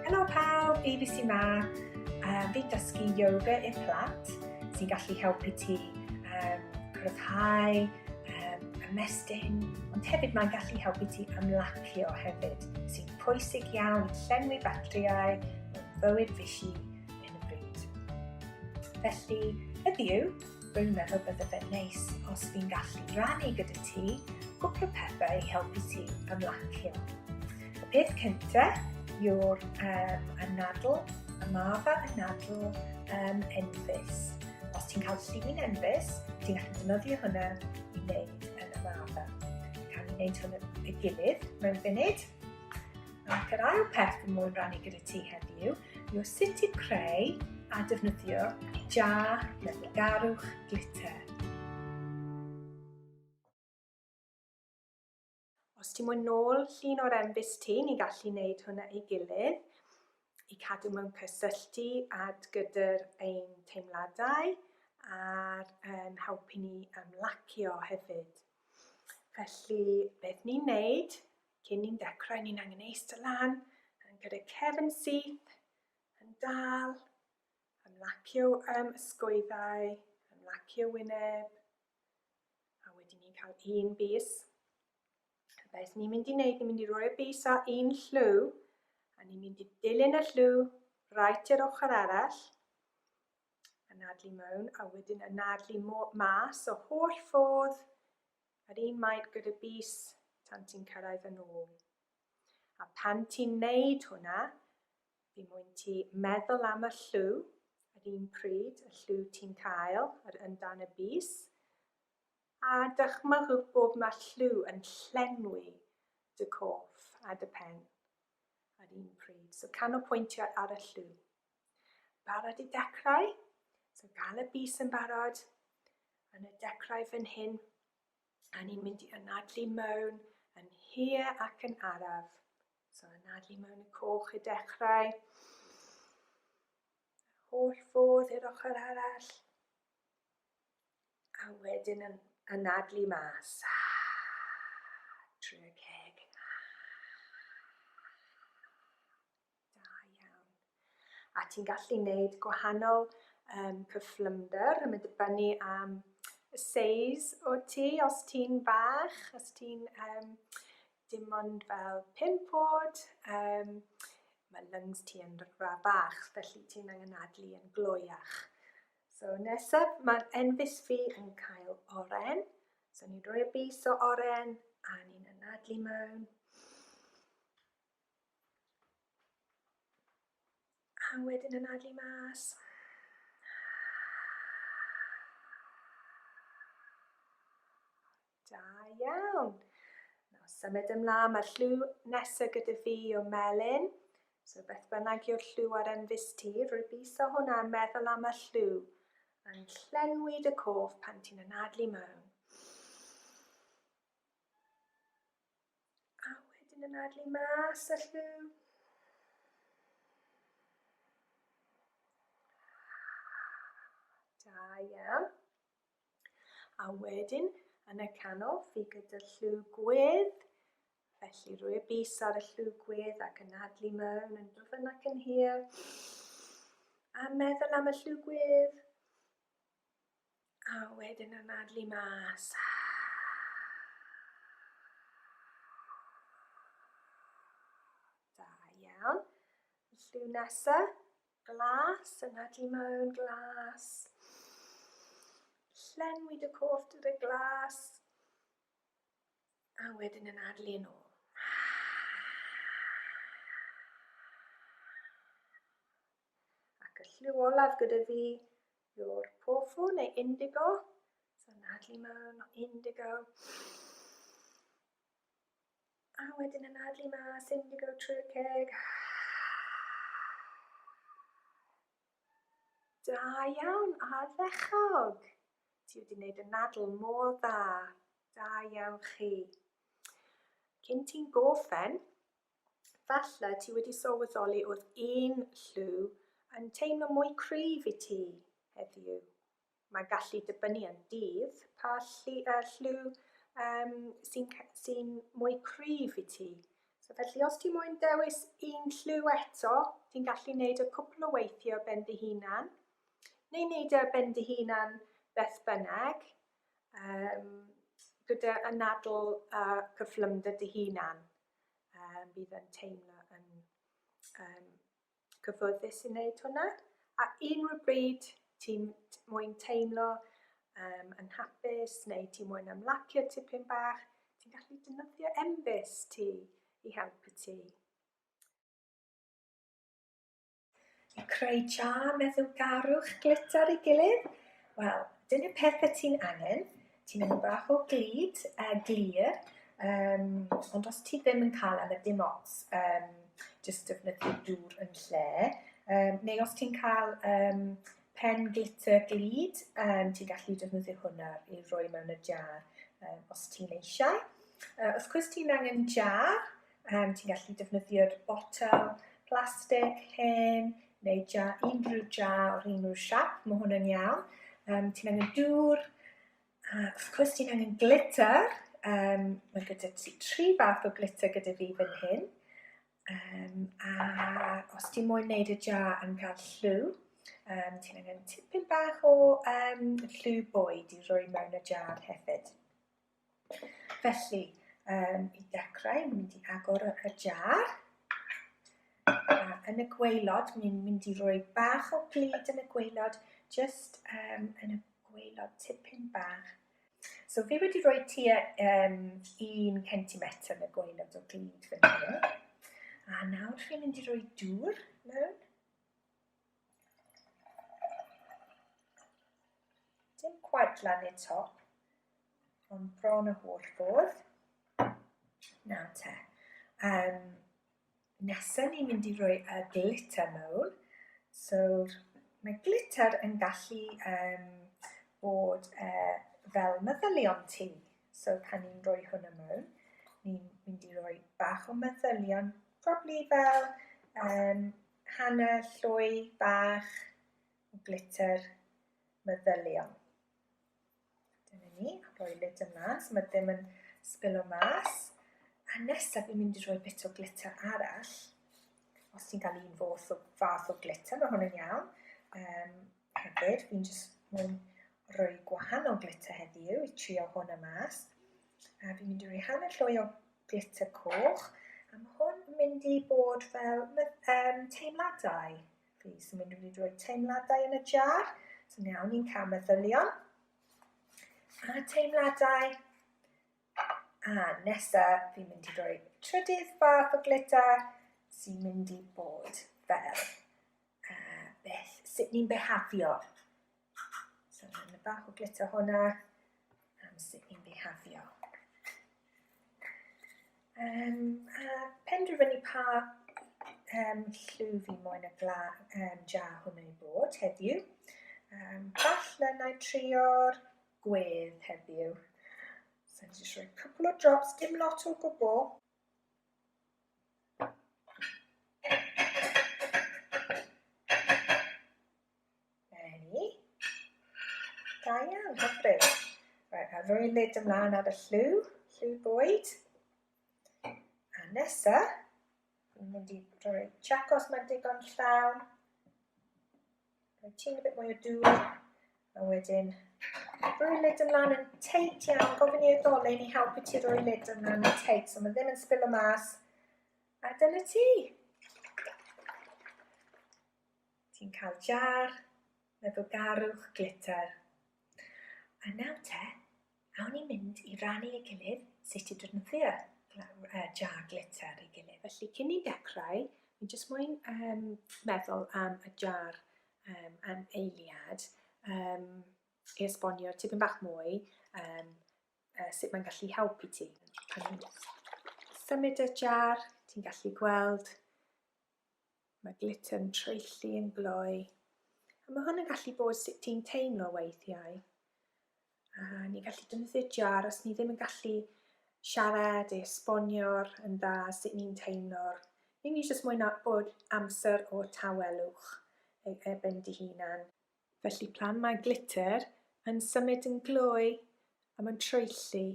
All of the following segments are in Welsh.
Helo pawb, ABC ma. Uh, fi dysgu yoga i'r plant sy'n gallu helpu ti um, cryfhau, um, ymestyn, ond hefyd mae'n gallu helpu ti ymlacio hefyd, sy'n pwysig iawn i llenwi batriau mewn fywyd fysi yn y bryd. Felly, heddiw, Rwy'n meddwl bydde fe'n neis os fi'n gallu rannu gyda ti gwpl o pethau i helpu ti ymlacio. Y peth cyntaf yw'r um, anadl, y maf a anadl um, enfys. Os ti'n cael llun enfys, ti'n gallu defnyddio hwnna i wneud yn y maf. Cael ei wneud hwn y gilydd mewn funud. Ac yr ail peth fy moyn rannu gyda ti heddiw yw sut i creu a defnyddio jar garwch glitter. Os ti'n mwyn nôl llun o'r embus ti, ni gallu wneud hwnna ei gilydd i cadw mewn cysylltu ad gyda'r ein teimladau a'r um, helpu ni ymlacio hefyd. Felly, beth ni'n neud Cyn ni'n dechrau, ni'n angen eistedd lan, yn gyda cefn syth, yn dal, ymlacio um, ysgwyddau, ymlacio wyneb, a wedyn ni'n cael un bus. Beth ni'n mynd i wneud, ni'n mynd i roi'r bus ar un llw, a ni'n mynd i dilyn y llw rhaid i'r ochr arall, anadlu mewn, a wedyn anadlu mas o holl ffordd Yr un maint gyda bys tan ti'n cyrraedd yn ôl. A pan ti'n neud hwnna, fi mwyn ti meddwl am y llw, yr un pryd y llw ti'n cael, yr un dan y bys, a dychmygwch bod mae llw yn llenwi dy coff a dy pen, yr un pryd. So canolpwyntio ar y llw. Barod i dechrau? So gan y bys yn barod, yn y dechrau fan hyn, a ni'n mynd i anadlu mewn yn hir ac yn araf. So anadlu mewn y coch i dechrau. Holl ffordd i'r ochr arall. A wedyn yn anadlu mas. Trwy'r ceg. Da iawn. A ti'n gallu neud gwahanol um, cyflymder yn mynd dibynnu am y seis o ti, os ti'n bach, os ti'n um, dim ond fel pimp oed, um, mae lungs ti yn ra bach, felly ti'n angen adlu yn gloiach. So nesaf, mae'r enfys fi yn cael oren, so ni'n rhoi bus o oren, a ni'n anadlu mewn. A wedyn anadlu mas. Da iawn. Nawr symud ymlaen, mae'r llw nesaf gyda fi o melyn. So beth bynnag yw'r llw ar ymfus ti, rwybiso hwnna a meddwl am y llw. Yn llenwi dy cof pan ti'n anadlu mewn. A wedyn yn adlu mas y lliw. Da iawn. A wedyn yn y canol fi gyda lliw gwedd. Felly rwy y bus ar y lliw gwedd ac yn adlu mewn yn dwfn ac yn hir. A meddwl am y lliw gwedd. A wedyn anadlu mas. Da iawn. Lliw nesa, glas, anadlu mewn, glas. Llenwi dy cof drwy'r y glas. A wedyn anadlu yn ôl. Ac y lliw olaf gyda fi yw'r pofu neu indigo. So nadlu mawn o indigo. A wedyn yn adlu mas indigo trwy'r ceg. Da iawn, ardderchog. Ti wedi gwneud y nadl mor dda. Da iawn chi. Cyn ti'n goffen, Falle ti wedi sylweddoli oedd un lliw yn teimlo mwy cryf i ti heddiw. Mae'n gallu dibynnu yn dydd pa lli, uh, lliw um, sy'n sy mwy cryf i ti. So felly os ti moyn dewis un lliw eto, ti'n gallu gwneud y cwpl o weithiau ben dy hunan, neu wneud y e ben dy hunan beth bynnag, um, gyda anadl a cyflymder dy hunan. um, bydd yn teimlo yn um, cyfforddus i wneud hwnna. A unrhyw bryd ti'n mwyn teimlo um, yn hapus neu ti mwyn ymlacio tipyn bach, ti'n gallu dynyddio embus ti i helpu ti. A creu jar meddwlgarwch glitter i gilydd? Wel, dyna peth y ti'n angen. Ti'n angen bach o glid, a uh, glir, um, ond os ti ddim yn cael am y dim ots, um, jyst defnyddio dŵr yn lle. Um, neu os ti'n cael um, pen glitter glid, um, ti'n gallu defnyddio hwnna i roi mewn y jar um, os ti'n eisiau. Uh, os gwrs ti'n angen jar, Um, ti'n gallu defnyddio'r botel plastig hen neu ja, unrhyw ja o'r unrhyw siap, mae hwn yn iawn. Um, ti'n angen dŵr, a wrth gwrs ti'n angen glitter. Um, mae gyda ti tri fath o glitter gyda fi fan hyn. Um, a os ti'n moyn wneud y ja yn cael llw, um, ti'n angen tipyn bach o um, llw bwyd i roi mewn y jar hefyd. Felly, um, i dechrau, ni'n mynd i agor y, y jar. A yn y gweilod, ni'n mynd i roi bach o glid yn y gweilod, just um, yn y gweilod tipyn bach. So fi wedi rhoi tua um, un centimetr yn y gweilod o glid fan hyn. A nawr fi'n mynd i roi dŵr mewn. Dim quite lan i'r top, ond bron y holl ffordd. Na te. Um, nesa ni'n mynd i roi y glitter mewn. So, mae glitter yn gallu um, bod uh, fel meddylion ti. So, pan ni'n rhoi hwnna mewn, ni'n mynd i roi bach o meddylion, probably fel um, Hanner llwy bach o glitter meddyliol. Dyna ni, rhoi lid yma, so mae ddim yn sbilo mas. A nesaf fi'n mynd i rhoi bit o glitter arall. Os ti'n cael un fath o, fath o glitter, mae hwn yn iawn. Um, Hefyd, fi'n jyst mynd rhoi gwahanol glitter heddiw i trio hwn y mas. A fi'n mynd i roi hanner llwy o glitter coch. A mae hwn yn mynd i bod fel um, teimladau. Fi sy'n mynd i roi teimladau yn y jar. So iawn, ni'n cael meddylion. A teimladau A nesa fi'n mynd i roi trydydd fath o glitter sy'n mynd i bod fel uh, beth, sut ni'n behafio. So mae'n bach o glitter hwnna am sut ni'n behafio. Um, a penderfynu pa um, llw fi moyn y gla, um, jar hwnnw i bod heddiw. Um, falle na i trio'r gwedd heddiw. So ni'n just rhoi cwpl o drops, dim lot o gwbl. Neu. Da iawn, hyfryd. Right, a rhoi lid ymlaen ar y llw, llw bwyd. A nesa, ni'n mynd i rhoi chacos mae'n digon llawn. Rhoi ti'n y bit mwy o dŵr. A wedyn, rhoi lid ymlaen yn teit iawn. Gofyn i'r dolen i helpu ti rhoi lid ymlaen yn teit. So mae ddim yn spillo mas. A dyna ti. Ti'n cael jar neu garwch glitter. A nawr te, Awn ni mynd i rannu ei gilydd sut i defnyddio jar glitter ei gilydd. Felly cyn ni'n dechrau, fi'n jyst moyn um, meddwl am y jar um, am eiliad um, i esbonio tipyn bach mwy um, uh, sut mae'n gallu helpu ti. Pan symud y jar, ti'n gallu gweld Mae glitter yn traethu yn gloi. A mae hwn yn gallu bod sut ti'n teimlo weithiau. A ni'n gallu defnyddio jar os ni ddim yn gallu siarad, esbonio'r yn dda sut ni'n teimlo. Ni ni jyst moyn bod amser o tawelwch e- erbyn dy hunan. Felly plan mae glitter yn symud yn gloi a mae'n traethu.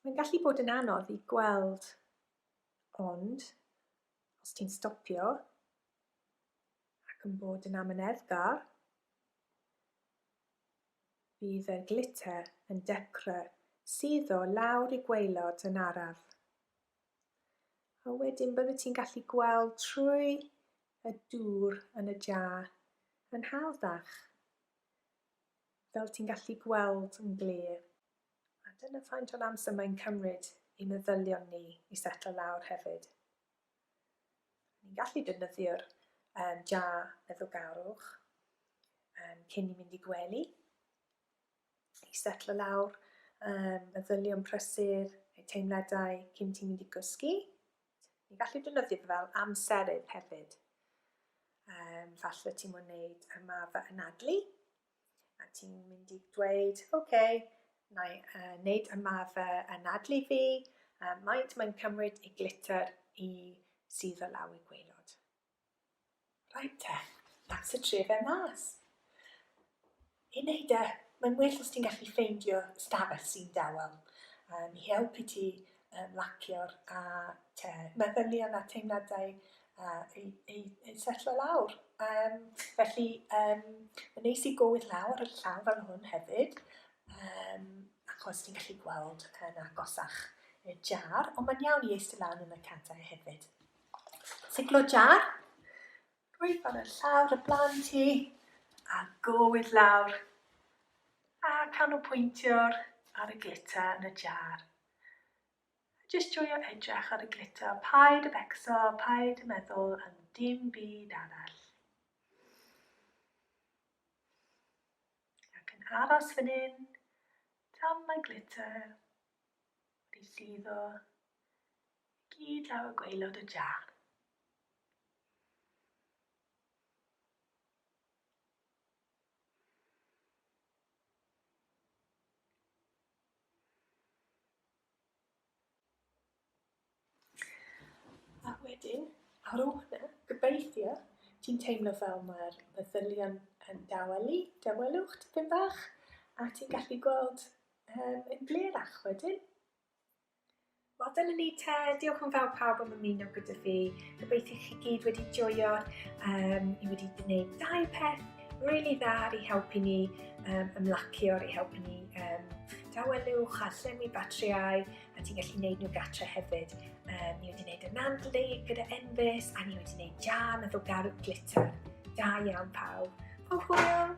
Mae'n gallu bod yn anodd i gweld, ond Os ti'n stopio ac yn bod yn amyneddgar, bydd yr glitter yn dechrau suddo lawr i gwaelod yn araf. A wedyn byddet ti'n gallu gweld trwy y dŵr yn y jar yn hawddach, fel ti'n gallu gweld yn glir. A dyna faint o'n amser mae'n cymryd i meddylion ni i setlo lawr hefyd. Ni'n gallu defnyddio'r um, ja meddwlgarwch um, cyn i mynd i gwely, i setlo lawr um, meddylion prysur, eu teimladau cyn ti'n mynd i gysgu. Ni'n gallu defnyddio fe fel amserydd hefyd. Um, falle ti'n mwyn wneud ymarfer anadlu, A ti'n mynd i dweud, ok, na i uh, wneud ymarfer anadlu fi, uh, maent mae'n cymryd i glitter i sydd o law i gweilod. Right te, that's y tre fe mas. I wneud e, mae'n well os ti'n gallu ffeindio stafell sy'n dawel um, i helpu ti uh, lacio'r a te, meddylion a teimladau uh, ei, ei, ei setlo lawr. Um, felly, um, yn neis i gywir lawr y llaw fel hwn hefyd, um, achos ti'n gallu gweld yn agosach y jar, ond mae'n iawn i eistedd lawr yn y cadau hefyd. Siglo jar, rwy'n fan y llawr y blaen ti, a gywir lawr, a canolpwyntio'r ar y glitter yn y jar. Jyst joio edrych ar y glitter, paid a becso, paid a meddwl am dim byd arall. Ac yn aros fan hyn, tan mae glitter wedi suddo gyd lawr y gweilod y jar. A wedyn, ar ôl hwnna, gobeithio, ti'n teimlo fel mae'r meddylion yn dawelu, dawelwch tipyn bach, a ti'n gallu gweld yn glerach wedyn. Wel dyna ni te, diolch yn fawr pawb am ymuno gyda fi. Gobeithio chi gyd wedi joio. Um, ni wedi gwneud dau peth really dda ar ei helpu ni um, ymlacio, ar ei helpu ni um, dawelwch a llenwi batriau a ti'n gallu gwneud nhw gatre hefyd. Um, ni wedi gwneud y nandlu gyda Envis a ni wedi gwneud jam efo garw glitter. Da iawn pawb. Hwyl!